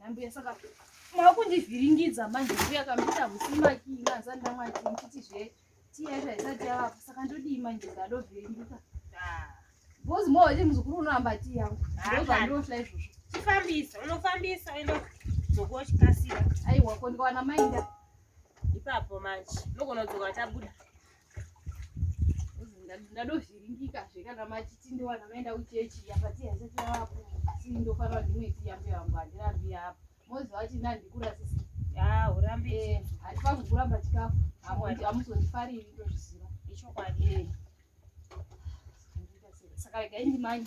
Anambuya saka makundivhiringidza manje mbuya kamita husimakina asanda manje mchiti zve tiya zvaisati yavapo saka ndodii manje zvanovhiringika bhozi mo iti muzukuru unoramba tii yangu ndozvandirohla izvozvo chifambisa unofambisa uenda dzokuwa chikasira aiwa ko ndikawana mainda ipapo manje nogona kudzoka tabuda ndadozviringika zve kana machiti ndiwana maenda kuchechi yapatiyasetiraapo asi ndofana ndimwe tiyambe yangu handirambi yapo moziva kuti ndandikura sisi urambe handifangi kuramba chikafu hamuzondifariri ndozviziva ichokwadi saka regai ndimanye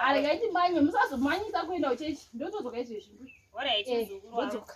aregai ndimanye musazomanyisa kuenda kuchechi ndotodzoka izvezvi ndodzoka